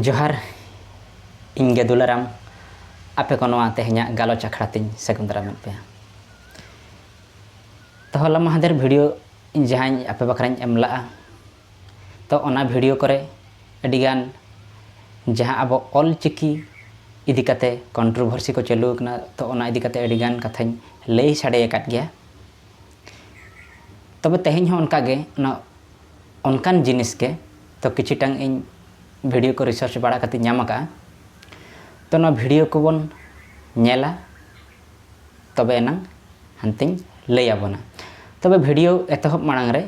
ᱡᱚᱦᱟᱨ ᱤᱧ ᱜᱮ ᱫᱩᱞᱟᱨᱟᱢ ᱟᱯᱮ ᱠᱚ ᱱᱚᱣᱟ ᱛᱮᱦᱮᱧᱟᱜ ᱜᱟᱞᱚᱪ ᱟᱠᱷᱲᱟ ᱛᱤᱧ ᱥᱟᱹᱜᱩᱱ ᱫᱟᱨᱟᱢᱮᱫ ᱯᱮᱭᱟ ᱛᱚ ᱦᱚᱞᱟ ᱢᱟᱦᱫᱮᱨ ᱵᱷᱤᱰᱤᱭᱳ ᱤᱧ ᱡᱟᱦᱟᱸᱧ ᱟᱯᱮ ᱵᱟᱠᱷᱨᱟᱧ ᱮᱢ ᱞᱟᱜᱼᱟ ᱛᱚ ᱚᱱᱟ ᱵᱷᱤᱰᱤᱭᱳ ᱠᱚᱨᱮ ᱟᱹᱰᱤᱜᱟᱱ ᱡᱟᱦᱟᱸ ᱟᱵᱚ ᱚᱞ ᱪᱤᱠᱤ ᱤᱫᱤ ᱠᱟᱛᱮ ᱠᱚᱱᱴᱨᱳᱵᱷᱟᱨᱥᱤ ᱠᱚ ᱪᱟᱹᱞᱩ ᱟᱠᱟᱱᱟ ᱛᱚ ᱚᱱᱟ ᱤᱫᱤ ᱠᱟᱛᱮ ᱟᱹᱰᱤᱜᱟᱱ ᱠᱟᱛᱷᱟᱧ ᱞᱟᱹᱭ ᱥᱟᱰᱮ ᱟᱠᱟᱫ ᱜᱮᱭᱟ ᱛᱚᱵᱮ ᱛᱮᱦᱮᱧ ᱦᱚᱸ ᱚᱱᱠᱟᱜᱮ ᱚᱱᱟ ᱚᱱᱠᱟᱱ ᱡᱤᱱᱤᱥ ᱜᱮ ᱛᱚ ᱠᱤᱪᱷᱤᱴᱟᱝ ᱤᱧ ᱵᱷᱤᱰᱤᱭᱳ ᱠᱚ ᱨᱤᱥᱟᱨᱪ ᱵᱟᱲᱟ ᱠᱟᱛᱮ ᱧᱟᱢ ᱟᱠᱟᱫᱼᱟ ᱛᱚ ᱱᱚᱣᱟ ᱵᱷᱤᱰᱤᱭᱳ ᱠᱚᱵᱚᱱ ᱧᱮᱞᱟ ᱛᱚᱵᱮ ᱮᱱᱟᱝ ᱦᱟᱱᱛᱮᱧ ᱞᱟᱹᱭ ᱟᱵᱚᱱᱟ ᱛᱚᱵᱮ ᱵᱷᱤᱰᱤᱭᱳ ᱮᱛᱚᱦᱚᱵ ᱢᱟᱲᱟᱝ ᱨᱮ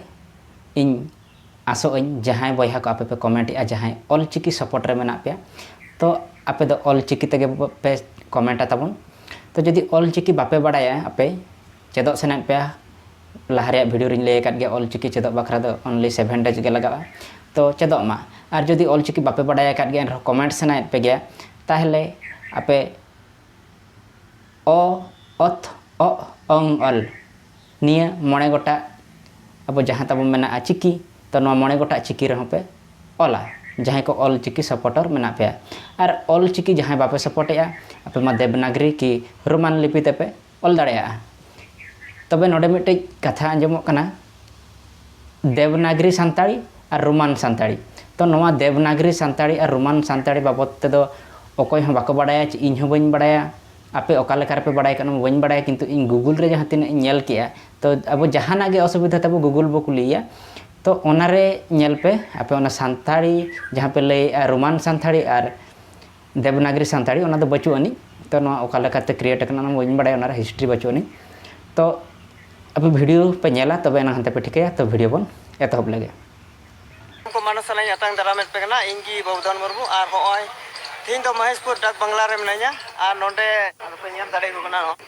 ᱤᱧ ᱟᱥᱚᱜ ᱟᱹᱧ ᱡᱟᱦᱟᱸᱭ ᱵᱚᱭᱦᱟ ᱠᱚ ᱟᱯᱮ ᱯᱮ ᱠᱚᱢᱮᱱᱴ ᱮᱫᱼᱟ ᱡᱟᱦᱟᱸᱭ ᱚᱞ ᱪᱤᱠᱤ ᱥᱚᱯᱚᱴ ᱨᱮ ᱢᱮᱱᱟᱜ ᱯᱮᱭᱟ ᱛᱚ ᱟᱯᱮ ᱫᱚ ᱚᱞ ᱪᱤᱠᱤ ᱛᱮᱜᱮ ᱯᱮ ᱠᱚᱢᱮᱱᱴᱟ ᱛᱟᱵᱚᱱ ᱛᱚ ᱡᱩᱫᱤ ᱚᱞ ᱪᱤᱠᱤ ᱵᱟᱯᱮ ᱵᱟᱲᱟᱭᱟ ᱟᱯᱮ ᱪᱮᱫᱚᱜ ᱥᱟᱱᱟᱭᱮᱫ ᱯᱮᱭᱟ ᱞᱟᱦᱟ ᱨᱮᱭᱟᱜ ᱵᱷᱤᱰᱤᱭᱳ ᱨᱮᱧ ᱞᱟᱹᱭ ᱟᱠᱟᱫ ᱜᱮᱭᱟ ᱚᱞ ᱪᱤᱠᱤ ᱪᱮᱫᱚᱜ ᱵᱟᱠᱷᱨᱟ ᱫᱚ ᱚᱱᱞᱤ ᱥᱮᱵᱷᱮᱱ ᱰᱮᱡᱽ ᱜᱮ ᱞᱟᱜᱟᱜᱼᱟ ᱛᱚ ᱪᱮᱫᱚᱜ ᱢᱟ ᱟᱨ ᱡᱩᱫᱤ ᱚᱞ ᱪᱤᱠᱤ ᱵᱟᱯᱮ ᱵᱟᱰᱟᱭ ᱟᱠᱟᱫ ᱜᱮᱭᱟ ᱮᱱᱨᱮᱦᱚᱸ ᱠᱚᱢᱮᱱᱴ ᱥᱟᱱᱟᱭᱮᱫ ᱯᱮ ᱜᱮᱭᱟ ᱛᱟᱦᱚᱞᱮ ᱟᱯᱮ ᱚ ᱚᱛ ᱚᱜ ᱚᱝ ᱚᱞ ᱱᱤᱭᱟᱹ ᱢᱚᱬᱮ ᱜᱚᱴᱟᱜ ᱟᱵᱚ ᱡᱟᱦᱟᱸ ᱛᱟᱵᱚ ᱢᱮᱱᱟᱜᱼᱟ ᱪᱤᱠᱤ ᱛᱚ ᱱᱚᱣᱟ ᱢᱚᱬᱮ ᱜᱚᱴᱟᱜ ᱪᱤᱠᱤ ᱨᱮᱦᱚᱸ ᱯᱮ ᱚᱞᱟ ᱡᱟᱦᱟᱸᱭ ᱠᱚ ᱚᱞ ᱪᱤᱠᱤ ᱥᱟᱯᱚᱴᱚᱨ ᱢᱮᱱᱟᱜ ᱯᱮᱭᱟ ᱟᱨ ᱚᱞ ᱪᱤᱠᱤ ᱡᱟᱦᱟᱸᱭ ᱵᱟᱯᱮ ᱥᱟᱯᱚᱴᱮᱜᱼᱟ ᱟᱯᱮ ᱢᱟ ᱫᱮᱵᱽᱱᱟᱜᱽᱨᱤ ᱠᱤ ᱨᱳᱢᱟᱱ ᱞᱤᱯᱤ ᱛᱮᱯᱮ ᱚᱞ ᱫᱟᱲᱮᱭᱟᱜᱼᱟ ᱛᱚᱵᱮ ᱱᱚᱰᱮ ᱢᱤᱫᱴᱮᱡ ᱠᱟᱛᱷᱟ ᱟᱸᱡᱚᱢᱚᱜ ᱠᱟᱱᱟ ᱫᱮᱵᱽᱱᱟᱜᱽᱨᱤ ᱥᱟᱱᱛᱟᱲᱤ ᱟᱨ ᱨᱳᱢᱟᱱ ᱥᱟᱱᱛᱟᱲᱤ ᱛᱚ ᱱᱚᱣᱟ ᱫᱮᱵᱽᱱᱟᱜᱽᱨᱤ ᱥᱟᱱᱛᱟᱲᱤ ᱟᱨ ᱨᱳᱢᱟᱱ ᱥᱟᱱᱛᱟᱲᱤ ᱵᱟᱵᱚᱫ ᱛᱮᱫᱚ ᱚᱠᱚᱭ ᱦᱚᱸ ᱵᱟᱠᱚ ᱵᱟᱲᱟᱭᱟ ᱪᱮ ᱤᱧ ᱦᱚᱸ ᱵᱟᱹᱧ ᱵᱟᱲᱟᱭᱟ ᱟᱯᱮ ᱚᱠᱟ ᱞᱮᱠᱟ ᱨᱮᱯᱮ ᱵᱟᱲᱟᱭ ᱠᱟᱜᱼᱟ ᱚᱱᱟ ᱢᱟ ᱵᱟᱹᱧ ᱵᱟᱲᱟᱭᱟ ᱠᱤᱱᱛᱩ ᱤᱧ ᱜᱩᱜᱩᱞ ᱨᱮ ᱡᱟᱦᱟᱸ ᱛᱤᱱᱟᱹᱜ ᱤᱧ ᱧᱮᱞ ᱠᱮᱜᱼᱟ ᱛᱚ ᱟᱵᱚ ᱡᱟᱦᱟᱱᱟᱜ ᱜᱮ ᱚᱥᱩᱵᱤᱫᱷᱟ ᱛᱟᱵᱚ ᱜᱩᱜᱩᱞ ᱵᱚ ᱠᱩᱞᱤᱭᱮᱭᱟ ᱛᱚ ᱚᱱᱟᱨᱮ ᱧᱮᱞ ᱯᱮ ᱟᱯᱮ ᱚᱱᱟ ᱥᱟᱱᱛᱟᱲᱤ ᱡᱟᱦᱟᱸ ᱯᱮ ᱞᱟᱹᱭᱮᱜᱼᱟ ᱨᱳᱢᱟᱱ ᱥᱟᱱᱛᱟᱲᱤ ᱟᱨ ᱫᱮᱵᱽᱱᱟᱜᱽᱨᱤ ᱥᱟᱱᱛᱟᱲᱤ ᱚᱱᱟ ᱫᱚ ᱵᱟᱹᱪᱩᱜ ᱟᱹᱱᱤᱡ ᱛᱚ ᱱᱚᱣᱟ ᱚᱠᱟ ᱞᱮᱠᱟᱛᱮ ᱠᱨᱤᱭᱮᱴ ᱟᱠᱟᱱᱟ ᱚᱱᱟ ᱵᱟᱹᱧ ᱵᱟᱲᱟᱭᱟ ᱚᱱᱟᱨᱮ ᱦᱤᱥᱴᱨᱤ ᱵᱟᱹᱪᱩᱜ ᱟᱹᱱᱤᱡ ᱛᱚ ᱟᱯᱮ ᱵᱷᱤᱰᱤᱭᱳ ᱯᱮ ᱧᱮᱞᱟ ᱛᱚᱵᱮ ᱮᱱᱟᱝ ᱦᱟᱱᱛᱮ ᱯᱮ ᱴᱷᱤᱠᱟᱹᱭᱟ ᱛᱚ ᱵᱷᱤᱰᱤᱭᱳ ᱵᱚᱱ ᱮᱛᱚᱦᱚᱵ ᱞᱮᱜᱮ ᱠᱚ ᱢᱟᱱᱚ ᱥᱟᱱᱟᱧ ᱟᱛᱟᱝ ᱫᱟᱨᱟᱢᱮᱫ ᱯᱮ ᱠᱟᱱᱟ ᱤᱧ ᱜᱮ ᱵᱟᱵᱩᱫᱷᱚᱱ ᱢᱩᱨᱢᱩ ᱟᱨ ᱦᱚᱸᱜᱼᱚᱭ ᱛᱮᱦᱮᱧ ᱫᱚ ᱢᱚᱦᱮᱥᱯᱩᱨ ᱰᱟᱠ ᱵᱟᱝᱞᱟ ᱨᱮ ᱢᱤᱱᱟᱹᱧᱟ ᱟᱨ ᱱᱚᱰᱮ ᱟᱫᱚ ᱯᱮ ᱧᱮᱞ ᱫᱟᱲᱮᱭᱟᱠᱚ ᱠᱟᱱᱟ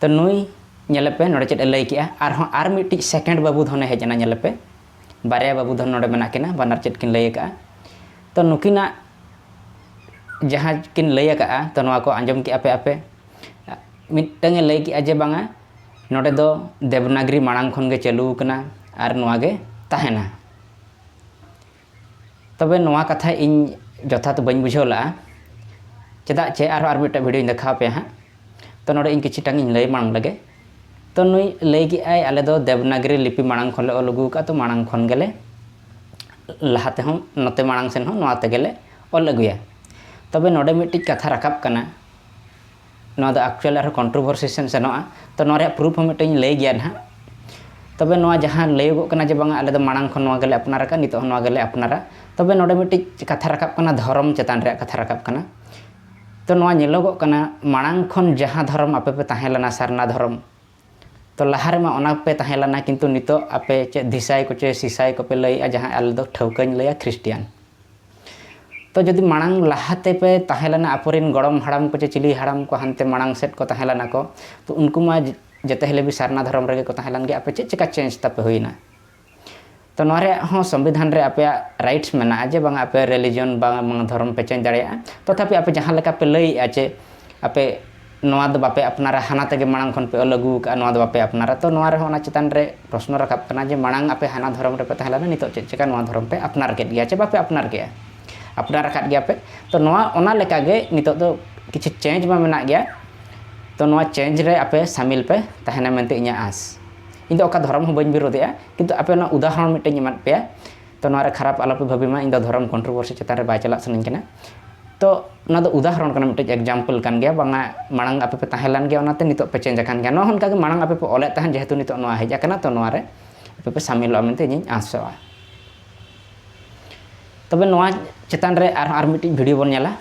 ᱛᱚ ᱱᱩᱭ ᱧᱮᱞᱮ ᱯᱮ ᱱᱚᱰᱮ ᱪᱮᱫ ᱮ ᱞᱟᱹᱭ ᱠᱮᱜᱼᱟ ᱟᱨᱦᱚᱸ ᱟᱨ ᱢᱤᱫᱴᱤᱡ ᱥᱮᱠᱮᱱᱰ ᱵᱟᱹᱵᱩ ᱫᱷᱚᱱ ᱮ ᱦᱮᱡ ᱮᱱᱟ ᱧᱮᱞᱮ ᱯᱮ ᱵᱟᱨᱭᱟ ᱵᱟᱹᱵᱩ ᱫᱷᱚᱱ ᱱᱚᱰᱮ ᱢᱮᱱᱟᱜ ᱠᱤᱱᱟ ᱵᱟᱱᱟᱨ ᱪᱮᱫ ᱠᱤᱱ ᱞᱟᱹᱭ ᱠᱟᱜᱼᱟ ᱛᱚ ᱱᱩᱠᱤᱱᱟᱜ ᱡᱟᱦᱟᱸ ᱠᱤᱱ ᱞᱟᱹᱭ ᱠᱟᱜᱼᱟ ᱛᱚ ᱱᱚᱣᱟ ᱠᱚ ᱟᱸᱡᱚᱢ ᱠᱮᱜᱼᱟ ᱯᱮ ᱟᱯᱮ ᱢᱤᱫᱴᱟᱝ ᱮ ᱞᱟᱹᱭ ᱠᱮᱜᱼᱟ ᱡᱮ ᱵᱟᱝᱟ ᱱᱚᱰᱮ ᱫᱚ ᱫᱮᱵᱽᱱᱟᱜᱽᱨᱤ ᱢᱟᱲᱟᱝ ᱠᱷᱚᱱ ᱜᱮ ᱪᱟᱹᱞᱩ ᱠᱟᱱᱟ ᱟᱨ ᱱᱚᱣᱟ ᱜᱮ ᱛᱟᱦᱮᱱᱟ ᱛᱚᱵᱮ ᱱᱚᱣᱟ ᱠᱟᱛᱷᱟ ᱤᱧ ᱡᱚᱛᱷᱟᱛ ᱵᱟᱹᱧ ᱵᱩᱡᱷᱟᱹᱣ ᱞᱟᱜᱼᱟ ᱪᱮᱫᱟᱜ ᱪᱮ ᱟᱨᱦᱚᱸ ᱟᱨ ᱢᱤᱫᱴᱮᱱ ᱵᱷᱤᱰᱭᱳᱧ ᱫᱮᱠᱷᱟᱣ ᱯᱮᱭᱟ ᱦᱟᱸᱜ ᱛᱚ ᱱᱚᱰᱮ ᱤᱧ ᱠᱤᱪᱷᱩᱴᱟᱝ ᱤᱧ ᱞᱟᱹᱭ ᱢᱟᱲᱟᱝ ᱞᱮᱜᱮ ᱛᱚ ᱱᱩᱭ ᱞᱟᱹᱭ ᱠᱮᱜᱼᱟᱭ ᱟᱞᱮ ᱫᱚ ᱫᱮᱵᱽᱱᱟᱜᱽᱨᱤ ᱞᱤᱯᱤ ᱢᱟᱲᱟᱝ ᱠᱷᱚᱱᱞᱮ ᱚᱞ ᱟᱹᱜᱩ ᱟᱠᱟᱫᱼᱟ ᱛᱚ ᱢᱟᱲᱟᱝ ᱠᱷᱚᱱ ᱜᱮᱞᱮ ᱞᱟᱦᱟ ᱛᱮᱦᱚᱸ ᱱᱚᱛᱮ ᱢᱟᱲᱟᱝ ᱥᱮᱱ ᱦᱚᱸ ᱱᱚᱣᱟ ᱛᱮᱜᱮᱞᱮ ᱚᱞ ᱟᱹᱜᱩᱭᱟ ᱛᱚᱵᱮ ᱱᱚᱰᱮ ᱢᱤᱫᱴᱤᱡ ᱠᱟᱛᱷᱟ ᱨᱟᱠᱟᱵ ᱠᱟᱱᱟ ᱱᱚᱣᱟ ᱫᱚ ᱮᱠᱪᱩᱭᱮᱞ ᱟᱨᱦᱚᱸ ᱠᱚᱱᱴᱨᱳᱵᱷᱟᱨᱥᱤ ᱥᱮᱱ ᱥᱮᱱᱚᱜᱼᱟ ᱛᱚ ᱱᱚᱣᱟ ᱨᱮᱭᱟᱜ ᱯᱨᱩᱯᱷ ᱦᱚᱸ ᱢᱤᱫᱴᱮᱱ ᱤᱧ ᱞᱟᱹᱭ ᱜᱮᱭᱟ ᱱᱟᱦᱟᱜ ᱛᱚᱵᱮ ᱱᱚᱣᱟ ᱡᱟᱦᱟᱸ ᱞᱟᱹᱭᱚᱜᱚᱜ ᱠᱟᱱᱟ ᱡᱮ ᱵᱟᱝᱟ ᱟᱞᱮ ᱫᱚ ᱢᱟᱲᱟᱝ ᱠᱷᱚᱱ ᱱᱚᱣᱟ ᱜᱮᱞᱮ ᱟᱯᱱᱟᱨ ᱟᱠᱟᱫᱼᱟ ᱱᱤᱛᱚᱜ ᱦᱚᱸ ᱱᱚᱣᱟ ᱜᱮᱞᱮ ᱟᱯᱱᱟᱨᱟ ᱛᱚᱵᱮ ᱱᱚᱰᱮ ᱢᱤᱫᱴᱤᱡ ᱠᱟᱛᱷᱟ ᱨᱟᱠᱟᱵ ᱠᱟᱱᱟ ᱫᱷᱚᱨᱚᱢ ᱪᱮᱛᱟᱱ ᱨᱮᱭᱟᱜ ᱠᱟᱛᱷᱟ ᱨᱟᱠᱟᱵ ᱠᱟᱱᱟ ᱛᱚ ᱱᱚᱣᱟ ᱧᱮᱞᱚᱜᱚᱜ ᱠᱟᱱᱟ ᱢᱟᱲᱟᱝ ᱠᱷᱚᱱ ᱡᱟᱦᱟᱸ ᱫᱷᱚᱨᱚᱢ ᱟᱯᱮ ᱯᱮ ᱛᱟᱦᱮᱸ ᱞᱮᱱᱟ ᱥᱟᱨᱱᱟ ᱫᱷᱚᱨᱚᱢ ᱛᱚ ᱞᱟᱦᱟ ᱨᱮᱢᱟ ᱚᱱᱟ ᱯᱮ ᱛᱟᱦᱮᱸ ᱞᱮᱱᱟ ᱠᱤᱱᱛᱩ ᱱᱤᱛᱚᱜ ᱟᱯᱮ ᱪᱮᱫ ᱫᱷᱤᱥᱟᱭ ᱠᱚᱪᱮ ᱥᱤᱥᱟᱭ ᱠᱚᱯᱮ ᱞᱟᱹᱭᱮᱜᱼᱟ ᱡᱟᱦᱟᱸ ᱟᱞᱮ ᱫᱚ ᱴᱷᱟᱹᱣᱠᱟᱹᱧ ᱞᱟᱹᱭᱟ ᱠᱷᱨᱤᱥᱴᱤᱭᱟᱱ ᱛᱚ ᱡᱩᱫᱤ ᱢᱟᱲᱟᱝ ᱞᱟᱦᱟ ᱛᱮᱯᱮ ᱛᱟᱦᱮᱸ ᱞᱮᱱᱟ ᱟᱯᱚᱨᱤᱱ ᱜᱚᱲᱚᱢ ᱦᱟᱲᱟᱢ ᱠᱚ ᱪᱮ ᱪᱤᱞᱤ ᱦᱟᱲᱟᱢ ᱠᱚ ᱦᱟᱱᱛᱮ ᱢᱟᱲᱟᱝ ᱥᱮᱫ ᱠᱚ ᱛᱟᱦᱮᱸ ᱞᱮᱱᱟ ᱠᱚ ᱛᱚ ᱩᱱᱠᱩ ᱢᱟ ᱡᱮᱛᱮ ᱦᱤᱞᱮᱵᱤ ᱥᱟᱨᱱᱟ ᱫᱷᱚᱨᱚᱢ ᱨᱮᱜᱮ ᱠᱚ ᱛᱟᱦᱮᱸ ᱞᱮᱱ ᱜᱮ ᱟᱯᱮ ᱪᱮᱫ ᱪᱮᱠᱟ ᱪᱮᱧᱡᱽ ᱛᱟᱯᱮ ᱦᱩᱭᱱᱟ ᱛᱚ ᱱᱚᱣᱟ ᱨᱮᱭᱟᱜ ᱦᱚᱸ ᱥᱚᱝᱵᱤᱫᱷᱟᱱ ᱨᱮ ᱟᱯᱮᱭᱟᱜ ᱨᱟᱭᱤᱴᱥ ᱢᱮᱱᱟᱜᱼᱟ ᱡᱮ ᱵᱟᱝᱟ ᱟᱯᱮ ᱨᱤᱞᱤᱡᱚᱱ ᱵᱟᱝᱟ ᱵᱟᱝᱟ ᱫᱷᱚᱨᱚᱢ ᱯᱮ ᱪᱮᱧᱡᱽ ᱫᱟᱲᱮᱭᱟᱜᱼᱟ ᱛᱚᱛᱷᱟᱯᱤ ᱟᱯᱮ ᱡᱟᱦᱟᱸ ᱞᱮᱠᱟ ᱯᱮ ᱞᱟᱹᱭᱮᱫᱼᱟ ᱡᱮ ᱟᱯᱮ ᱱᱚᱣᱟ ᱫᱚ ᱵᱟᱯᱮ ᱟᱯᱱᱟᱨᱟ ᱦᱟᱱᱟ ᱛᱮᱜᱮ ᱢᱟᱲᱟᱝ ᱠᱷᱚᱱ ᱯᱮ ᱚᱞ ᱟᱹᱜᱩ ᱟᱠᱟᱫᱼᱟ ᱱᱚᱣᱟ ᱫᱚ ᱵᱟᱯᱮ ᱟᱯᱱᱟᱨᱟ ᱛᱚ ᱱᱚᱣᱟ ᱨᱮᱦᱚᱸ ᱚᱱᱟ ᱪᱮᱛᱟᱱ ᱨᱮ ᱯᱨᱚᱥᱱᱚ ᱨᱟᱠᱟᱵ ᱠᱟᱱᱟ ᱡᱮ ᱢᱟᱲᱟᱝ ᱟᱯᱮ ᱦᱟᱱᱟ ᱫᱷᱚᱨᱚᱢ ᱨᱮᱯᱮ ᱛᱟᱦᱮᱸ ᱞᱮᱱᱟ ᱱᱤᱛᱚᱜ ᱪᱮᱫ ᱪᱤᱠᱟᱹ ᱱᱚᱣᱟ ᱫᱷᱚᱨᱚᱢ ᱯᱮ ᱟᱯᱱᱟᱨ ᱠᱮᱫ ᱜᱮᱭᱟ ᱪᱮ ᱵᱟᱯᱮ ᱟᱯᱱᱟᱨ ᱠᱮᱫᱼᱟ ᱟᱯᱱᱟᱨ ᱟᱠᱟᱫ ᱜᱮᱭᱟ ᱯᱮ ᱛᱚ ᱱᱚᱣᱟ ᱚᱱᱟ ᱞᱮᱠᱟ ᱜᱮ ᱱᱤᱛᱚᱜ ᱫᱚ ᱠᱤᱪᱷᱩ ᱪᱮᱧᱡᱽ ᱢᱟ ᱢᱮᱱᱟᱜ ᱜᱮᱭᱟ ᱛᱚ ᱱᱚᱣᱟ ᱪᱮᱧᱡᱽ ᱨᱮ ᱟᱯᱮ ᱥᱟᱹᱢᱤᱞ ᱯᱮ ᱛᱟᱦᱮᱱᱟ ᱢᱮᱱᱛᱮ ᱤᱧᱟᱹᱜ ᱟᱸᱥ ᱤᱧ ᱫᱚ ᱚᱠᱟ ᱫᱷᱚᱨᱚᱢ ᱦᱚᱸ ᱵᱟᱹᱧ ᱵᱤᱨᱳᱫᱮᱜᱼᱟ ᱠᱤᱱᱛᱩ ᱟᱯᱮ ᱚᱱᱟ ᱩᱫᱟᱦᱚᱨᱚᱱ ᱢᱤᱫᱴᱮᱱ ᱤᱧ ᱮᱢᱟᱫ ᱯᱮᱭᱟ ᱛᱚ ᱱᱚᱣᱟ ᱨᱮ ᱠᱷᱟᱨᱟᱯ ᱟᱞᱚ ᱯᱮ ᱵᱷᱟᱹᱵᱤ ᱢᱟ ᱤᱧ ᱫᱚ ᱫᱷᱚᱨᱚᱢ ᱠᱚᱱᱴᱨᱳᱵᱷᱟᱨᱥᱤ ᱪᱮᱛᱟᱱ ᱨᱮ ᱵᱟᱭ ᱪᱟᱞᱟᱜ ᱥᱟᱱᱟᱧ ᱠᱟᱱᱟ ᱛᱚ ᱚᱱᱟ ᱫᱚ ᱩᱫᱟᱦᱚᱨᱚᱱ ᱠᱟᱱᱟ ᱢᱤᱫᱴᱮᱡ ᱮᱠᱡᱟᱢᱯᱚᱞ ᱠᱟᱱ ᱜᱮᱭᱟ ᱵᱟᱝᱟ ᱢᱟᱲᱟᱝ ᱟᱯᱮ ᱯᱮ ᱛᱟᱦᱮᱸ ᱞᱮᱱ ᱜᱮᱭᱟ ᱚᱱᱟᱛᱮ ᱱᱤᱛᱚᱜ ᱯᱮ ᱪᱮᱧᱡᱽ ᱟᱠᱟᱱ ᱜᱮᱭᱟ ᱱᱚᱣᱟ ᱦᱚᱸ ᱚᱱᱠᱟ ᱜᱮ ᱢᱟᱲᱟᱝ ᱟᱯᱮ ᱯᱮ ᱚᱞᱮᱫ ᱛᱟᱦᱮᱸᱫ ᱡᱮᱦᱮᱛᱩ ᱱᱤᱛᱚᱜ ᱱᱚᱣᱟ ᱦᱮᱡ ᱟᱠᱟᱱᱟ ᱛᱚ ᱱᱚᱣᱟ ᱨᱮ ᱟᱯᱮ ᱯᱮ ᱥᱟᱢᱤᱞᱚᱜᱼᱟ ᱢᱮᱱᱛᱮ ᱤᱧᱤᱧ ᱟᱸᱥᱚᱜᱼᱟ ᱛᱚᱵᱮ ᱱᱚᱣᱟ ᱪᱮᱛᱟᱱ ᱨᱮ ᱟᱨᱦᱚᱸ ᱟᱨ ᱢᱤᱫᱴᱤᱡ ᱵᱷᱤᱰᱤᱭᱳ ᱵᱚᱱ ᱧᱮᱞᱟ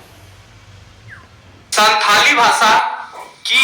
ᱥᱟᱱᱛᱷᱟᱞᱤ ᱵᱷᱟᱥᱟ ᱠᱤ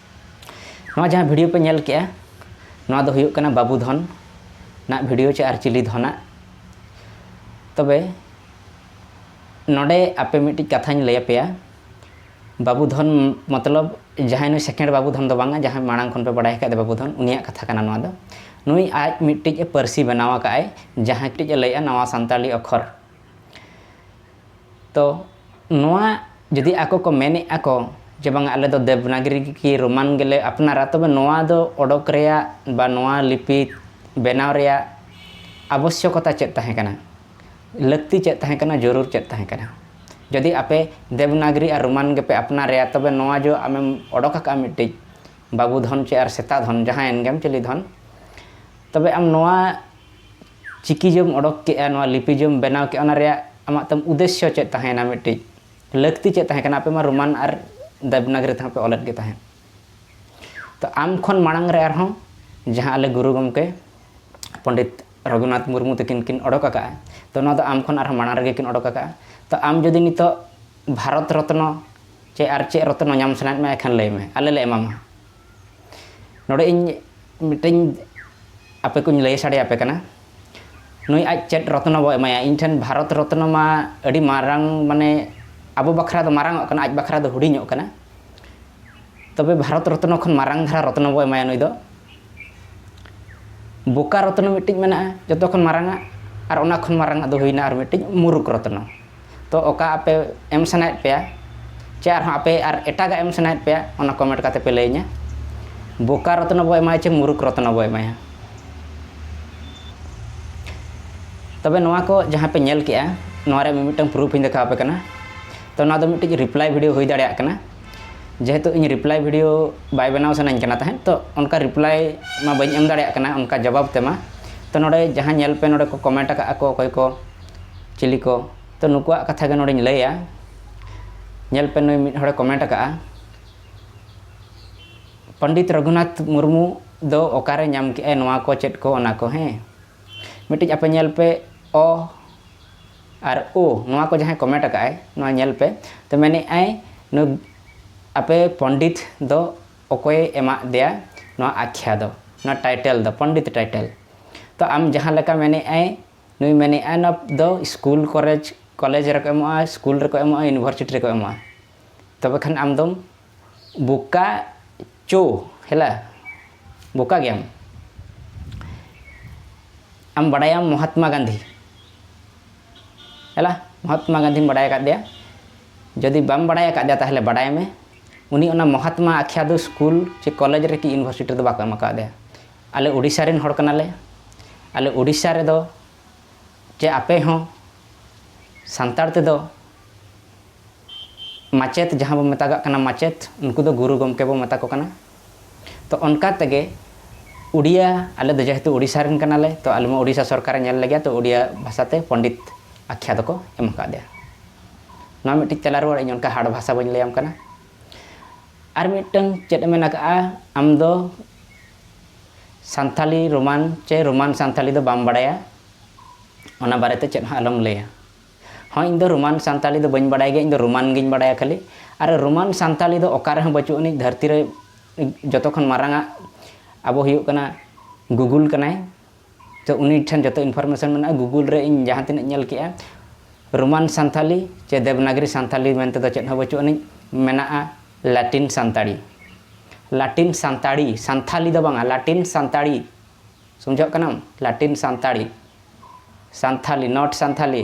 ᱱᱚᱣᱟ ᱡᱟᱦᱟᱸ ᱵᱷᱤᱰᱤᱭᱳ ᱯᱮ ᱧᱮᱞ ᱠᱮᱜᱼᱟ ᱱᱚᱣᱟ ᱫᱚ ᱦᱩᱭᱩᱜ ᱠᱟᱱᱟ ᱵᱟᱹᱵᱩ ᱫᱷᱚᱱ ᱱᱟᱜ ᱵᱷᱤᱰᱤᱭᱳ ᱪᱮ ᱟᱨ ᱪᱤᱞᱤ ᱫᱷᱚᱱᱟᱜ ᱛᱚᱵᱮ ᱱᱚᱰᱮ ᱟᱯᱮ ᱢᱤᱫᱴᱤᱡ ᱠᱟᱛᱷᱟᱧ ᱞᱟᱹᱭ ᱟᱯᱮᱭᱟ ᱵᱟᱹᱵᱩ ᱫᱷᱚᱱ ᱢᱚᱛᱞᱚᱵ ᱡᱟᱦᱟᱸᱭ ᱱᱩᱭ ᱥᱮᱠᱮᱱᱰ ᱵᱟᱹᱵᱩ ᱫᱷᱚᱱ ᱫᱚ ᱵᱟᱝᱟ ᱡᱟᱦᱟᱸᱭ ᱢᱟᱲᱟᱝ ᱠᱷᱚᱱ ᱯᱮ ᱵᱟᱰᱟᱭ ᱟᱠᱟᱫ ᱵᱟᱹᱵᱩ ᱫᱷᱚᱱ ᱩᱱᱤᱭᱟᱜ ᱠᱟᱛᱷᱟ ᱠᱟᱱᱟ ᱱᱚᱣᱟ ᱫᱚ ᱱᱩᱭ ᱟᱡ ᱢᱤᱫᱴᱤᱡ ᱯᱟᱹᱨᱥᱤ ᱵᱮᱱᱟᱣ ᱟᱠᱟᱫ ᱟᱭ ᱡᱟᱦᱟᱸ ᱴᱤᱡ ᱞᱟᱹᱭᱮᱜᱼᱟ ᱱᱟᱣᱟ ᱥᱟᱱᱛᱟᱲᱤ ᱚᱠᱷᱚᱨ ᱛᱚ ᱱᱚᱣᱟ ᱡᱩᱫᱤ ᱟᱠᱚ ᱠᱚ ᱢᱮᱱᱮᱫ ᱟᱠᱚ ᱡᱮ ᱵᱟᱝᱟ ᱟᱞᱮ ᱫᱚ ᱫᱮᱵᱽᱱᱟᱜᱽᱨᱤ ᱠᱤ ᱨᱳᱢᱟᱱ ᱜᱮᱞᱮ ᱟᱯᱱᱟᱨᱟ ᱛᱚᱵᱮ ᱱᱚᱣᱟ ᱫᱚ ᱚᱰᱚᱠ ᱨᱮᱭᱟᱜ ᱵᱟ ᱱᱚᱣᱟ ᱞᱤᱯᱤ ᱵᱮᱱᱟᱣ ᱨᱮᱭᱟᱜ ᱟᱵᱚᱥᱥᱚᱠᱚᱛᱟ ᱪᱮᱫ ᱛᱟᱦᱮᱸ ᱠᱟᱱᱟ ᱞᱟᱹᱠᱛᱤ ᱪᱮᱫ ᱛᱟᱦᱮᱸ ᱠᱟᱱᱟ ᱡᱟᱹᱨᱩᱲ ᱪᱮᱫ ᱛᱟᱦᱮᱸ ᱠᱟᱱᱟ ᱡᱩᱫᱤ ᱟᱯᱮ ᱫᱮᱵᱽᱱᱟᱜᱽᱨᱤ ᱟᱨ ᱨᱳᱢᱟᱱ ᱜᱮᱯᱮ ᱟᱯᱱᱟᱨᱮᱜᱼᱟ ᱛᱚᱵᱮ ᱱᱚᱣᱟ ᱡᱮ ᱟᱢᱮᱢ ᱚᱰᱚᱠ ᱟᱠᱟᱫᱼᱟ ᱢᱤᱫᱴᱤᱡ ᱵᱟᱹᱵᱩ ᱫᱷᱚᱱ ᱪᱮ ᱟᱨ ᱥᱮᱛᱟ ᱫᱷᱚᱱ ᱡᱟᱦᱟᱸᱭᱮᱱ ᱜᱮᱢ ᱪᱤᱞᱤ ᱫᱷᱚᱱ ᱛᱚᱵᱮ ᱟᱢ ᱱᱚᱣᱟ ᱪᱤᱠᱤ ᱡᱮᱢ ᱚᱰᱚᱠ ᱠᱮᱫᱼᱟ ᱱᱚᱣᱟ ᱞᱤᱯᱤ ᱡᱮᱢ ᱵᱮᱱᱟᱣ ᱠᱮᱫᱼᱟ ᱚᱱᱟ ᱨᱮᱭᱟᱜ ᱟᱢᱟᱜ ᱛᱟᱢ ᱩᱫᱮᱥᱥᱚ ᱪᱮᱫ ᱛᱟᱦᱮᱸᱭᱮᱱᱟ ᱢᱤᱫᱴᱤᱡ ᱞᱟᱹᱠᱛᱤ ᱪᱮᱫ ᱛᱟᱦᱮᱸ ᱠᱟᱱᱟ ᱟᱯᱮ ᱢᱟ ᱨᱳᱢᱟᱱ ᱟᱨ ᱫᱮᱵᱽᱱᱟᱜᱽᱨᱤ ᱛᱮᱦᱚᱸ ᱯᱮ ᱚᱞᱮᱫ ᱜᱮ ᱛᱟᱦᱮᱸᱫ ᱛᱚ ᱟᱢ ᱠᱷᱚᱱ ᱢᱟᱲᱟᱝ ᱨᱮ ᱟᱨᱦᱚᱸ ᱡᱟᱦᱟᱸ ᱟᱞᱮ ᱜᱩᱨᱩ ᱜᱚᱢᱠᱮ ᱯᱚᱸᱰᱤᱛ ᱨᱚᱜᱷᱩᱱᱟᱛᱷ ᱢᱩᱨᱢᱩ ᱛᱟᱹᱠᱤᱱ ᱠᱤᱱ ᱚᱰᱚᱠ ᱟᱠᱟᱫᱼᱟ ᱛᱚ ᱱᱚᱣᱟ ᱫᱚ ᱟᱢ ᱠᱷᱚᱱ ᱟᱨᱦᱚᱸ ᱢᱟᱲᱟᱝ ᱨᱮᱜᱮ ᱠᱤᱱ ᱚᱰᱚᱠ ᱟᱠᱟᱫᱼᱟ ᱛᱚ ᱟᱢ ᱡᱩᱫᱤ ᱱᱤᱛᱚᱜ ᱵᱷᱟᱨᱚᱛ ᱨᱚᱛᱱᱚ ᱪᱮ ᱟᱨ ᱪᱮᱫ ᱨᱚᱛᱱᱚ ᱧᱟᱢ ᱥᱟᱱᱟᱭᱮᱫ ᱢᱮᱭᱟ ᱮᱱᱠᱷᱟᱱ ᱞᱟᱹᱭ ᱢᱮ ᱟᱞᱮ ᱞᱮ ᱮᱢᱟᱢᱟ ᱱᱚᱰᱮ ᱤᱧ ᱢᱤᱫᱴᱮᱱ ᱟᱯᱮ ᱠᱚᱧ ᱞᱟᱹᱭ ᱥᱟᱰᱮ ᱟᱯᱮ ᱠᱟᱱᱟ ᱱᱩᱭ ᱟᱡ ᱪᱮᱫ ᱨᱚᱛᱱᱚ ᱵᱚ ᱮᱢᱟᱭᱟ ᱤᱧ ᱴᱷᱮᱱ ᱵᱷᱟᱨᱚᱛ ᱨᱚᱛᱱᱚ ᱢᱟ ᱟᱹᱰᱤ ᱢᱟᱨᱟᱝ ᱢᱟᱱᱮ ᱟᱵᱚ ᱵᱟᱠᱷᱨᱟ ᱫᱚ ᱢᱟᱨᱟᱝ ᱚᱜ ᱠᱟᱱᱟ ᱟᱡ ᱵᱟᱠᱷᱨᱟ ᱫᱚ ᱦᱩᱰᱤᱧᱚᱜ ᱠᱟᱱᱟ ᱛᱚᱵᱮ ᱵᱷᱟᱨᱚᱛ ᱨᱚᱛᱱᱚ ᱠᱷᱚᱱ ᱢᱟᱨᱟᱝ ᱫᱷᱟᱨᱟ ᱨᱚᱛᱱᱚ ᱵᱚ ᱮᱢᱟᱭᱟ ᱱᱩᱭ ᱫᱚ ᱵᱳᱠᱟᱨ ᱨᱚᱛᱱᱚ ᱢᱤᱫᱴᱤᱡ ᱢᱮᱱᱟᱜᱼᱟ ᱡᱚᱛᱚ ᱠᱷᱚᱱ ᱢᱟᱨᱟᱝ ᱟᱜ ᱟᱨ ᱚᱱᱟ ᱠᱷᱚᱱ ᱢᱟᱨᱟᱝ ᱟᱜ ᱫᱚ ᱦᱩᱭᱱᱟ ᱟᱨ ᱢᱤᱫᱴᱤᱡ ᱢᱩᱨᱩᱠᱷ ᱨᱚᱛᱱᱚ ᱛᱚ ᱚᱠᱟ ᱟᱯᱮ ᱮᱢ ᱥᱟᱱᱟᱭᱮᱫ ᱯᱮᱭᱟ ᱪᱮ ᱟᱨᱦᱚᱸ ᱟᱯᱮ ᱟᱨ ᱮᱴᱟᱜᱟᱜ ᱮᱢ ᱥᱟᱱᱟᱭᱮᱫ ᱯᱮᱭᱟ ᱚᱱᱟ ᱠᱚᱢᱮᱱᱴ ᱠᱟᱛᱮ ᱯᱮ ᱞᱟᱹᱭᱟᱹᱧᱟ ᱵᱳᱠᱟ ᱨᱚᱛᱱᱚ ᱵᱚ ᱮᱢᱟᱭᱟ ᱪᱮ ᱢᱩᱨᱩᱠ ᱨᱚᱛᱱᱚ ᱵᱚ ᱮᱢᱟᱭᱟ ᱛᱚᱵᱮ ᱱᱚᱣᱟ ᱠᱚ ᱡᱟᱦᱟᱸ ᱯᱮ ᱧᱮᱞ ᱠᱮᱜᱼᱟ ᱱᱚᱣᱟ ᱨᱮ ᱢᱤᱫᱴᱟᱝ ᱯᱨᱩᱯᱷ ᱤᱧ ᱫᱮᱠᱷᱟᱣ ᱟᱯᱮ ᱠᱟᱱᱟ ᱛᱚ ᱱᱚᱣᱟ ᱫᱚ ᱢᱤᱫᱴᱤᱡ ᱨᱤᱯᱞᱟᱭ ᱵᱷᱤᱰᱤᱭᱳ ᱦᱩᱭ ᱫᱟᱲᱮᱭᱟᱜ ᱠᱟᱱᱟ ᱡᱮᱦᱮᱛᱩ ᱤᱧ ᱨᱤᱯᱞᱟᱭ ᱵᱷᱤᱰᱤᱭᱳ ᱵᱟᱭ ᱵᱮᱱᱟᱣ ᱥᱟᱱᱟᱧ ᱠᱟᱱᱟ ᱛᱟᱦᱮᱸᱫ ᱛᱚ ᱚᱱᱠᱟ ᱨᱤᱯᱞᱟᱭ ᱢᱟ ᱵᱟᱹᱧ ᱮᱢ ᱫᱟᱲᱮᱭᱟᱜ ᱠᱟᱱᱟ ᱚᱱᱠᱟ ᱡᱚᱵᱟᱵ ᱛᱮᱢᱟ ᱛᱚ ᱱᱚᱰᱮ ᱡᱟᱦᱟᱸ ᱧᱮᱞ ᱯᱮ ᱱᱚᱰᱮ ᱠᱚ ᱠᱚᱢᱮᱱᱴ ᱟᱠᱟᱫ ᱟᱠᱚ ᱚᱠᱚᱭ ᱠᱚ ᱪᱤᱞᱤ ᱠᱚ ᱛᱚ ᱱᱩᱠᱩᱣᱟᱜ ᱠᱟᱛᱷᱟ ᱜᱮ ᱱᱚᱰᱮᱧ ᱞᱟᱹᱭᱟ ᱧᱮᱞ ᱯᱮ ᱱᱩᱭ ᱢᱤᱫ ᱦᱚᱲᱮ ᱠᱚᱢᱮᱱᱴ ᱟᱠᱟᱫᱼᱟ ᱯᱚᱱᱰᱤᱛ ᱨᱚᱜᱷᱩᱱᱟᱛᱷ ᱢᱩᱨᱢᱩ ᱫᱚ ᱚᱠᱟᱨᱮ ᱧᱟᱢ ᱠᱮᱜᱼᱟᱭ ᱱᱚᱣᱟ ᱠᱚ ᱪᱮᱫ ᱠᱚ ᱚᱱᱟ ᱠᱚ ᱦᱮᱸ ᱢᱤᱫᱴᱤᱡ ᱟᱯᱮ ᱧᱮᱞ ᱯᱮ ᱚ ᱟᱨ ᱳ ᱱᱚᱣᱟ ᱠᱚ ᱡᱟᱦᱟᱸᱭ ᱠᱚᱢᱮᱱᱴ ᱟᱠᱟᱫᱼᱟᱭ ᱱᱚᱣᱟ ᱧᱮᱞ ᱯᱮ ᱛᱚ ᱢᱮᱱᱮᱫᱼᱟᱭ ᱱᱩᱭ ᱟᱯᱮ ᱯᱚᱱᱰᱤᱛ ᱫᱚ ᱚᱠᱚᱭᱮ ᱮᱢᱟᱜ ᱫᱮᱭᱟ ᱱᱚᱣᱟ ᱟᱠᱷᱭᱟ ᱫᱚ ᱱᱚᱣᱟ ᱴᱟᱭᱴᱮᱞ ᱫᱚ ᱯᱚᱱᱰᱤᱛ ᱴᱟᱭᱴᱮᱞ ᱛᱚ ᱟᱢ ᱡᱟᱦᱟᱸ ᱞᱮᱠᱟ ᱢᱮᱱᱮᱫᱼᱟᱭ ᱱᱩᱭ ᱢᱮᱱᱮᱫ ᱟᱭ ᱱᱚᱣᱟ ᱫᱚ ᱥᱠᱩᱞ ᱠᱚᱞᱮᱡᱽ ᱠᱚᱞᱮᱡᱽ ᱨᱮᱠᱚ ᱮᱢᱚᱜᱼᱟ ᱥᱠᱩᱞ ᱨᱮᱠᱚ ᱮᱢᱚᱜᱼᱟ ᱤᱭᱩᱱᱤᱵᱷᱟᱨᱥᱤᱴᱤ ᱨᱮᱠᱚ ᱮᱢᱚᱜᱼᱟ ᱛᱚᱵᱮ ᱠᱷᱟᱱ ᱟᱢ ᱫᱚᱢ ᱵᱳᱠᱟ ᱪᱳ ᱦᱮᱞᱟ ᱵᱳᱠᱟ ᱜᱮᱭᱟᱢ ᱟᱢ ᱵᱟᱰᱟᱭᱟᱢ ᱢᱚᱦᱟᱛᱢᱟ ᱜᱟᱱᱫᱷᱤ ᱦᱮᱞᱟ ᱢᱚᱦᱟᱛᱢᱟ ᱜᱟᱱᱫᱷᱤᱢ ᱵᱟᱰᱟᱭ ᱟᱠᱟᱫᱮᱭᱟ ᱡᱩᱫᱤ ᱵᱟᱢ ᱵᱟᱰᱟᱭ ᱟᱠᱟᱫᱮᱭᱟ ᱛᱟᱦᱚᱞᱮ ᱵᱟᱰᱟᱭ ᱢᱮ ᱩᱱᱤ ᱚᱱᱟ ᱢᱚᱦᱟᱛᱢᱟ ᱟᱠᱷᱭᱟ ᱫᱚ ᱥᱠᱩᱞ ᱪᱮ ᱠᱚᱞᱮᱡᱽ ᱨᱮ ᱠᱤ ᱤᱭᱩᱱᱤᱵᱷᱟᱨᱥᱤᱴᱤ ᱨᱮᱫᱚ ᱵᱟᱠᱚ ᱮᱢ ᱟᱠᱟᱫᱮᱭᱟ ᱟᱞᱮ ᱳᱰᱤᱥᱟ ᱨᱮᱱ ᱦᱚᱲ ᱠᱟᱱᱟᱞᱮ ᱟᱞᱮ ᱳᱰᱤᱥᱟ ᱨᱮᱫᱚ ᱪᱮ ᱟᱯᱮ ᱦᱚᱸ ᱥᱟᱱᱛᱟᱲ ᱛᱮᱫᱚ ᱢᱟᱪᱮᱛ ᱡᱟᱦᱟᱸ ᱵᱚᱱ ᱢᱮᱛᱟᱜᱟᱜ ᱠᱟᱱᱟ ᱢᱟᱪᱮᱛ ᱩᱱᱠᱩ ᱫᱚ ᱜᱩᱨᱩ ᱜᱚᱢᱠᱮ ᱵᱚᱱ ᱢᱮᱛᱟ ᱠᱚ ᱠᱟᱱᱟ ᱛᱚ ᱚᱱᱠᱟ ᱛᱮᱜᱮ ᱩᱰᱤᱭᱟ ᱟᱞᱮ ᱫᱚ ᱡᱮᱦᱮᱛᱩ ᱳᱰᱤᱥᱟ ᱨᱮᱱ ᱠᱟᱱᱟᱞᱮ ᱛᱚ ᱟᱞᱮ ᱢᱟ ᱳᱰᱤᱥᱟ ᱥᱚᱨᱠᱟᱨᱮ ᱧᱮᱞ ᱞᱮᱜᱮᱭᱟ ᱛᱚ ᱳᱰᱤᱭᱟ ᱵᱷᱟᱥᱟ ᱛᱮ ᱯᱚᱱᱰᱤᱛ ᱟᱠᱷᱭᱟ ᱫᱚᱠᱚ ᱮᱢ ᱟᱠᱟᱫᱮᱭᱟ ᱱᱚᱣᱟ ᱢᱤᱫᱴᱤᱡ ᱛᱮᱞᱟ ᱨᱩᱣᱟᱹᱲ ᱤᱧ ᱚᱱᱠᱟ ᱦᱟᱨᱰ ᱵᱷᱟᱥᱟ ᱵᱟᱹᱧ ᱞᱟᱹᱭᱟᱢ ᱠᱟᱱᱟ ᱟᱨ ᱢᱤᱫᱴᱟᱹᱝ ᱪᱮᱫ ᱮᱢ ᱢᱮᱱ ᱟᱠᱟᱫᱼᱟ ᱟᱢ ᱫᱚ ᱥᱟᱱᱛᱟᱞᱤ ᱨᱳᱢᱟᱱ ᱪᱮ ᱨᱳᱢᱟᱱ ᱥᱟᱱᱛᱟᱞᱤ ᱫᱚ ᱵᱟᱢ ᱵᱟᱲᱟᱭᱟ ᱚᱱᱟ ᱵᱟᱨᱮᱛᱮ ᱪᱮᱫ ᱦᱚᱸ ᱟᱞᱚᱢ ᱞᱟᱹᱭᱟ ᱦᱚᱸ ᱤᱧ ᱫᱚ ᱨᱳᱢᱟᱱ ᱥᱟᱱᱛᱟᱞᱤ ᱫᱚ ᱵᱟᱹᱧ ᱵᱟᱲᱟᱭ ᱜᱮᱭᱟ ᱤᱧ ᱫᱚ ᱨᱳᱢᱟᱱ ᱜᱤᱧ ᱵᱟᱲᱟᱭᱟ ᱠᱷᱟᱹᱞᱤ ᱟᱨ ᱨᱳᱢᱟᱱ ᱥᱟᱱᱛᱟᱞᱤ ᱫᱚ ᱚᱠᱟ ᱨᱮᱦᱚᱸ ᱵᱟᱹᱪᱩᱜ ᱟᱹᱱᱤᱡ ᱫᱷᱟᱹᱨᱛᱤ ᱨᱮ ᱡᱚᱛᱚ ᱠᱷᱚᱱ ᱢᱟᱨᱟᱝ ᱟᱜ ᱟᱵᱚ ᱦᱩᱭᱩᱜ ᱠᱟᱱᱟ ᱜᱩᱜᱩᱞ ᱠᱟᱱᱟᱭ ᱛᱚ ᱩᱱᱤ ᱴᱷᱮᱱ ᱡᱚᱛᱚ ᱤᱱᱯᱷᱚᱨᱢᱮᱥᱚᱱ ᱢᱮᱱᱟᱜᱼᱟ ᱜᱩᱜᱩᱞ ᱨᱮ ᱤᱧ ᱡᱟᱦᱟᱸ ᱛᱤᱱᱟᱹᱜ ᱧᱮᱞ ᱠᱮᱜᱼᱟ ᱨᱳᱢᱟᱱ ᱥᱟᱱᱛᱟᱞᱤ ᱪᱮ ᱫᱮᱵᱽᱱᱟᱜᱽᱨᱤ ᱥᱟᱱᱛᱟᱞᱤ ᱢᱮᱱᱛᱮ ᱫᱚ ᱪᱮᱫ ᱦᱚᱸ ᱵᱟᱹᱪᱩᱜ ᱟᱹᱱᱤᱡ ᱢᱮᱱᱟᱜᱼᱟ ᱞᱟᱴᱤᱱ ᱥᱟᱱᱛᱟᱲᱤ ᱞᱟᱴᱤᱱ ᱥᱟᱱᱛᱟᱲᱤ ᱥᱟᱱᱛᱷᱟᱞᱤ ᱫᱚ ᱵᱟᱝᱟ ᱞᱟᱴᱤᱱ ᱥᱟᱱᱛᱟᱲᱤ ᱥᱚᱢᱡᱷᱟᱜ ᱠᱟᱱᱟᱢ ᱞᱟᱴᱤᱱ ᱥᱟᱱᱛᱟᱲᱤ ᱥᱟᱱᱛᱷᱟᱞᱤ ᱱᱚᱴ ᱥᱟᱱᱛᱷᱟᱞᱤ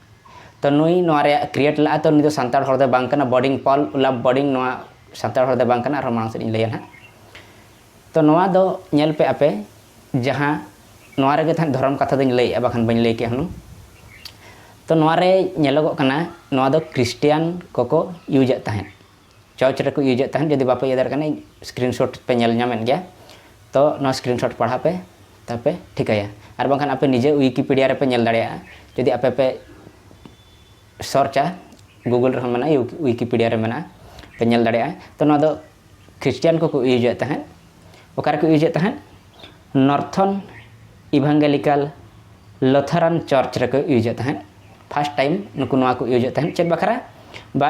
ᱛᱚ ᱱᱩᱭ ᱱᱚᱣᱟ ᱨᱮ ᱠᱨᱤᱭᱮᱴ ᱞᱟᱜᱼᱟ ᱛᱚ ᱱᱩᱭ ᱫᱚ ᱥᱟᱱᱛᱟᱲ ᱦᱚᱲ ᱫᱚ ᱵᱟᱝ ᱠᱟᱱᱟ ᱵᱚᱰᱤᱝ ᱯᱚᱞ ᱞᱟᱵᱷ ᱵᱚᱰᱤᱝ ᱱᱚᱣᱟ ᱥᱟᱱᱛᱟᱲ ᱦᱚᱲ ᱫᱚ ᱵᱟᱝ ᱠᱟᱱᱟ ᱟᱨᱦᱚᱸ ᱢᱟᱲᱟᱝ ᱥᱮᱫ ᱤᱧ ᱞᱟᱹᱭᱟ ᱱᱟᱦᱟᱜ ᱛᱚ ᱱᱚᱣᱟ ᱫᱚ ᱧᱮᱞ ᱯᱮ ᱟᱯᱮ ᱡᱟᱦᱟᱸ ᱱᱚᱣᱟ ᱨᱮᱜᱮ ᱛᱟᱦᱮᱸᱫ ᱫᱷᱚᱨᱚᱢ ᱠᱟᱛᱷᱟ ᱫᱚᱧ ᱞᱟᱹᱭᱮᱜᱼᱟ ᱵᱟᱠᱷᱟᱱ ᱵᱟᱹᱧ ᱞᱟᱹᱭ ᱠᱮᱭᱟ ᱦᱩᱱᱟᱹᱝ ᱛᱚ ᱱᱚᱣᱟ ᱨᱮ ᱧᱮᱞᱚᱜᱚᱜ ᱠᱟᱱᱟ ᱱᱚᱣᱟ ᱫᱚ ᱠᱨᱤᱥᱴᱤᱭᱟᱱ ᱠᱚᱠᱚ ᱤᱭᱩᱡᱮᱫ ᱛᱟᱦᱮᱸᱫ ᱪᱚᱪ ᱨᱮᱠᱚ ᱤᱭᱩᱡᱮᱫ ᱛᱟᱦᱮᱸᱫ ᱡᱩᱫᱤ ᱵᱟᱯᱮ ᱤᱭᱟᱹ ᱫᱟᱲᱮᱭᱟᱜ ᱠᱟᱱᱟ ᱤᱧ ᱥᱠᱨᱤᱱ ᱥᱚᱴ ᱯᱮ ᱧᱮᱞ ᱧᱟᱢᱮᱫ ᱜᱮᱭᱟ ᱛᱚ ᱱᱚᱣᱟ ᱥᱠᱨᱤᱱ ᱥᱚᱴ ᱯᱟᱲᱦᱟᱣ ᱯᱮ ᱛᱟᱯᱮ ᱴᱷᱤᱠᱟᱹᱭᱟ ᱟᱨ ᱵᱟᱝᱠᱷᱟᱱ ᱟᱯᱮ ᱱᱤᱡᱮ ᱣᱤᱠᱤᱯᱤᱰᱤᱭᱟ ᱨᱮᱯᱮ ᱧᱮᱞ ᱫᱟᱲᱮᱭᱟᱜᱼᱟ ᱡᱩᱫᱤ ᱟᱯᱮ ᱯᱮ ᱥᱚᱨᱪᱟ ᱜᱩᱜᱩᱞ ᱨᱮᱦᱚᱸ ᱢᱮᱱᱟᱜᱼᱟ ᱣᱤᱠᱤᱯᱤᱰᱤᱭᱟ ᱨᱮ ᱢᱮᱱᱟᱜᱼᱟ ᱯᱮ ᱧᱮᱞ ᱫᱟᱲᱮᱭᱟᱜᱼᱟ ᱛᱚ ᱱᱚᱣᱟ ᱫᱚ ᱠᱷᱨᱤᱥᱴᱤᱭᱟᱱ ᱠᱚᱠᱚ ᱤᱭᱩᱡᱮᱫ ᱛᱟᱦᱮᱸᱫ ᱚᱠᱟᱨᱮ ᱠᱚ ᱤᱭᱩᱡᱮᱫ ᱛᱟᱦᱮᱸᱫ ᱱᱚᱨᱛᱷᱚᱱ ᱤᱵᱷᱟᱝᱜᱮᱞᱤᱠᱟᱞ ᱞᱚᱛᱷᱟᱨᱟᱱ ᱪᱚᱨᱪ ᱨᱮᱠᱚ ᱤᱭᱩᱡᱮᱫ ᱛᱟᱦᱮᱸᱫ ᱯᱷᱟᱥᱴ ᱴᱟᱭᱤᱢ ᱱᱩᱠᱩ ᱱᱚᱣᱟ ᱠᱚ ᱤᱭᱩᱡᱮᱫ ᱛᱟᱦᱮᱸᱫ ᱪᱮᱫ ᱵᱟᱠᱷᱨᱟ ᱵᱟ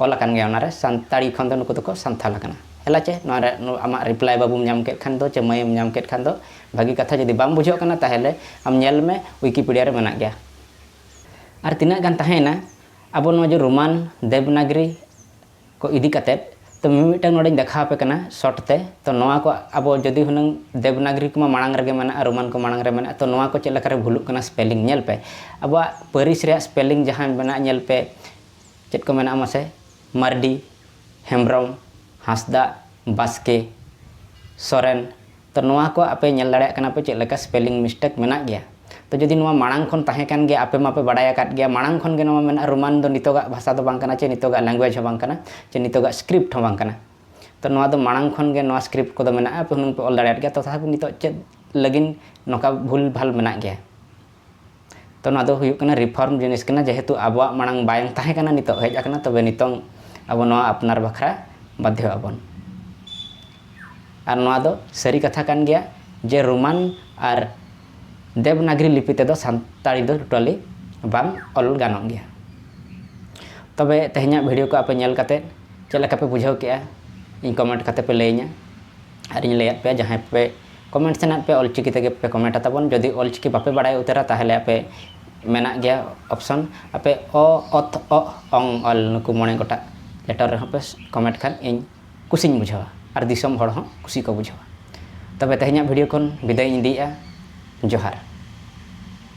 ᱚᱞ ᱟᱠᱟᱱ ᱜᱮᱭᱟ ᱚᱱᱟ ᱨᱮ ᱥᱟᱱᱛᱟᱲᱤ ᱠᱷᱚᱱ ᱫᱚ ᱱᱩᱠᱩ ᱫᱚ ᱠᱚ ᱥᱟᱱᱛᱷᱟᱞ ᱟᱠᱟᱱᱟ ᱦᱮᱞᱟ ᱪᱮ ᱱᱚᱣᱟ ᱨᱮ ᱟᱢᱟᱜ ᱨᱤᱯᱞᱟᱭ ᱵᱟᱹᱵᱩᱢ ᱧᱟᱢ ᱠᱮᱫ ᱠᱷᱟᱱ ᱫᱚ ᱪᱮ ᱢᱟᱹᱭᱮᱢ ᱧᱟᱢ ᱠᱮᱫ ᱠᱷᱟᱱ ᱫᱚ ᱵᱷᱟᱹᱜᱤ ᱠᱟᱛᱷᱟ ᱡᱩᱫᱤ ᱵᱟᱢ ᱵᱩᱡᱷᱟᱹᱣ ᱠᱟᱱᱟ ᱛᱟᱦᱚᱞᱮ ᱟᱢ ᱧᱮᱞ ᱢᱮ ᱣᱤᱠᱤᱯᱤᱰᱤᱭᱟ ᱨᱮ ᱢᱮᱱᱟᱜ ᱜᱮᱭᱟ ᱟᱨ ᱛᱤᱱᱟᱹᱜ ᱜᱟᱱ ᱛᱟᱦᱮᱸᱭᱮᱱᱟ ᱟᱵᱚ ᱱᱚᱣᱟ ᱡᱮ ᱨᱳᱢᱟᱱ ᱫᱮᱵᱽᱱᱟᱜᱽᱨᱤ ᱠᱚ ᱤᱫᱤ ᱠᱟᱛᱮᱫ ᱛᱚ ᱢᱤᱢᱤᱫᱴᱟᱝ ᱱᱚᱰᱮᱧ ᱫᱮᱠᱷᱟᱣ ᱟᱯᱮ ᱠᱟᱱᱟ ᱥᱚᱨᱴ ᱛᱮ ᱛᱚ ᱱᱚᱣᱟ ᱠᱚ ᱟᱵᱚ ᱡᱩᱫᱤ ᱦᱩᱱᱟᱹᱝ ᱫᱮᱵᱽᱱᱟᱜᱽᱨᱤ ᱠᱚᱢᱟ ᱢᱟᱲᱟᱝ ᱨᱮᱜᱮ ᱢᱮᱱᱟᱜᱼᱟ ᱨᱳᱢᱟᱱ ᱠᱚ ᱢᱟᱲᱟᱝ ᱨᱮ ᱢᱮᱱᱟᱜᱼᱟ ᱛᱚ ᱱᱚᱣᱟ ᱠᱚ ᱪᱮᱫ ᱞᱮᱠᱟ ᱨᱮ ᱵᱷᱩᱞᱩᱜ ᱠᱟᱱᱟ ᱥᱯᱮᱞᱤᱝ ᱧᱮᱞ ᱯᱮ ᱟᱵᱚᱣᱟᱜ ᱯᱟᱹᱨᱤᱥ ᱨᱮᱭᱟᱜ ᱥᱯᱮᱞᱤᱝ ᱡᱟᱦᱟᱸ ᱢᱮᱱᱟᱜᱼᱟ ᱧᱮᱞ ᱯᱮ ᱪᱮᱫ ᱠᱚ ᱢᱮᱱᱟᱜᱼᱟ ᱢᱟᱥᱮ ᱢᱟᱨᱰᱤ ᱦᱮᱢᱵᱨᱚᱢ ᱦᱟᱸᱥᱫᱟ ᱵᱟᱥᱠᱮ ᱥᱚᱨᱮᱱ ᱛᱚ ᱱᱚᱣᱟ ᱠᱚ ᱟᱯᱮ ᱧᱮᱞ ᱫᱟᱲᱮᱭᱟᱜ ᱠᱟᱱᱟ ᱯᱮ ᱪᱮᱫ ᱞᱮᱠᱟ ᱥᱯᱮᱞᱤᱝ ᱢᱤᱥᱴᱮᱠ ᱢᱮᱱᱟᱜ ᱜᱮᱭᱟ ᱛᱚ ᱡᱩᱫᱤ ᱱᱚᱣᱟ ᱢᱟᱲᱟᱝ ᱠᱷᱚᱱ ᱛᱟᱦᱮᱸ ᱠᱟᱱ ᱜᱮᱭᱟ ᱟᱯᱮ ᱢᱟᱯᱮ ᱵᱟᱲᱟᱭ ᱟᱠᱟᱫ ᱜᱮᱭᱟ ᱢᱟᱲᱟᱝ ᱠᱷᱚᱱ ᱜᱮ ᱱᱚᱣᱟ ᱢᱮᱱᱟᱜᱼᱟ ᱨᱳᱢᱟᱱ ᱫᱚ ᱱᱤᱛᱚᱜᱟᱜ ᱵᱷᱟᱥᱟ ᱫᱚ ᱵᱟᱝ ᱠᱟᱱᱟ ᱪᱮ ᱱᱤᱛᱚᱜᱟᱜ ᱞᱮᱝᱜᱩᱭᱮᱡᱽ ᱦᱚᱸ ᱵᱟᱝ ᱠᱟᱱᱟ ᱪᱮ ᱱᱤᱛᱚᱜᱟᱜ ᱥᱠᱨᱤᱯᱴ ᱦᱚᱸ ᱵᱟᱝ ᱠᱟᱱᱟ ᱛᱚ ᱱᱚᱣᱟ ᱫᱚ ᱢᱟᱲᱟᱝ ᱠᱷᱚᱱ ᱜᱮ ᱱᱚᱣᱟ ᱥᱠᱨᱤᱯᱴ ᱠᱚᱫᱚ ᱢᱮᱱᱟᱜᱼᱟ ᱟᱯᱮ ᱦᱩᱱᱟᱹᱝ ᱯᱮ ᱚᱞ ᱫᱟᱲᱮᱭᱟᱫ ᱜᱮᱭᱟ ᱛᱚᱛᱷᱟᱯᱤ ᱱᱤᱛᱚᱜ ᱪᱮᱫ ᱞᱟᱹᱜᱤᱫ ᱱᱚᱝᱠᱟ ᱵᱷᱩᱞ ᱵᱷᱟᱞ ᱢᱮᱱᱟᱜ ᱜᱮᱭᱟ ᱛᱚ ᱱᱚᱣᱟ ᱫᱚ ᱦᱩᱭᱩᱜ ᱠᱟᱱᱟ ᱨᱤᱯᱷᱚᱨᱢ ᱡᱤᱱᱤᱥ ᱠᱟᱱᱟ ᱡᱮᱦᱮᱛᱩ ᱟᱵᱚᱣᱟᱜ ᱢᱟᱲᱟᱝ ᱵᱟᱝ ᱛᱟᱦᱮᱸ ᱠᱟᱱᱟ ᱱᱤᱛᱚᱜ ᱦᱮᱡ ᱟᱠᱟᱱᱟ ᱛᱚᱵᱮ ᱱᱤᱛᱚᱝ ᱟᱵᱚ ᱱᱚᱣᱟ ᱟᱯᱱᱟᱨ ᱵᱟᱠᱷᱨᱟ ᱵᱟᱫᱽᱫᱷᱚ ᱟᱵᱚᱱ ᱟᱨ ᱱᱚᱣᱟ ᱫᱚ ᱥᱟᱹᱨᱤ ᱠᱟᱛᱷᱟ ᱠᱟᱱ ᱜᱮᱭᱟ ᱡᱮ ᱨᱳᱢᱟᱱ ᱟᱨ ᱫᱮᱵᱽᱱᱟᱜᱽᱨᱤ ᱞᱤᱯᱤ ᱛᱮᱫᱚ ᱥᱟᱱᱛᱟᱲᱤ ᱫᱚ ᱴᱳᱴᱟᱞᱤ ᱵᱟᱝ ᱚᱞ ᱜᱟᱱᱚᱜ ᱜᱮᱭᱟ ᱛᱚᱵᱮ ᱛᱮᱦᱮᱧᱟᱜ ᱵᱷᱤᱰᱤᱭᱳ ᱠᱚ ᱟᱯᱮ ᱧᱮᱞ ᱠᱟᱛᱮᱫ ᱪᱮᱫ ᱞᱮᱠᱟ ᱯᱮ ᱵᱩᱡᱷᱟᱹᱣ ᱠᱮᱜᱼᱟ ᱤᱧ ᱠᱚᱢᱮᱱᱴ ᱠᱟᱛᱮᱫ ᱯᱮ ᱞᱟᱹᱭᱟᱹᱧᱟᱹ ᱟᱨᱤᱧ ᱞᱟᱹᱭᱟᱫ ᱯᱮᱭᱟ ᱡᱟᱦᱟᱸᱭ ᱯᱮ ᱠᱚᱢᱮᱱᱴ ᱥᱟᱱᱟᱭᱮᱫ ᱯᱮᱭᱟ ᱚᱞᱪᱤᱠᱤ ᱛᱮᱜᱮ ᱯᱮ ᱠᱚᱢᱮᱱᱴᱟ ᱛᱟᱵᱚᱱ ᱡᱩᱫᱤ ᱚᱞᱪᱤᱠᱤ ᱵᱟᱯᱮ ᱵᱟᱲᱟᱭ ᱩᱛᱟᱹᱨᱟ ᱛᱟᱦᱚᱞᱮ ᱟᱯᱮ ᱢᱮᱱᱟᱜ ᱜᱮᱭᱟ ᱚᱯᱥᱚᱱ ᱟᱯᱮ ᱚ ᱚᱛ ᱚ ᱚᱝ ᱚᱞ ᱱᱩᱠᱩ ᱢᱚᱬᱮ ᱜᱚᱴᱟᱜ ᱞᱮᱴᱚᱨ ᱨᱮᱦᱚᱸ ᱯᱮ ᱠᱚᱢᱮᱱᱴ ᱠᱷᱟᱱ ᱤᱧ ᱠᱩᱥᱤᱧ ᱵᱩᱡᱷᱟᱹᱣᱟ ᱟᱨ ᱫᱤᱥᱚᱢ ᱦᱚᱲ ᱦᱚᱸ ᱠᱩᱥᱤ ᱠᱚ ᱵᱩᱡᱷᱟᱹᱣᱟ ᱛᱚᱵᱮ ᱛᱮᱦᱮᱧᱟᱜ ᱵᱷᱤᱰᱤᱭᱳ ᱠᱷᱚᱱ ᱵᱤᱫᱟᱹᱭᱤᱧ ᱤᱫᱤᱭᱮᱫᱼᱟ ᱡᱚᱦᱟᱨ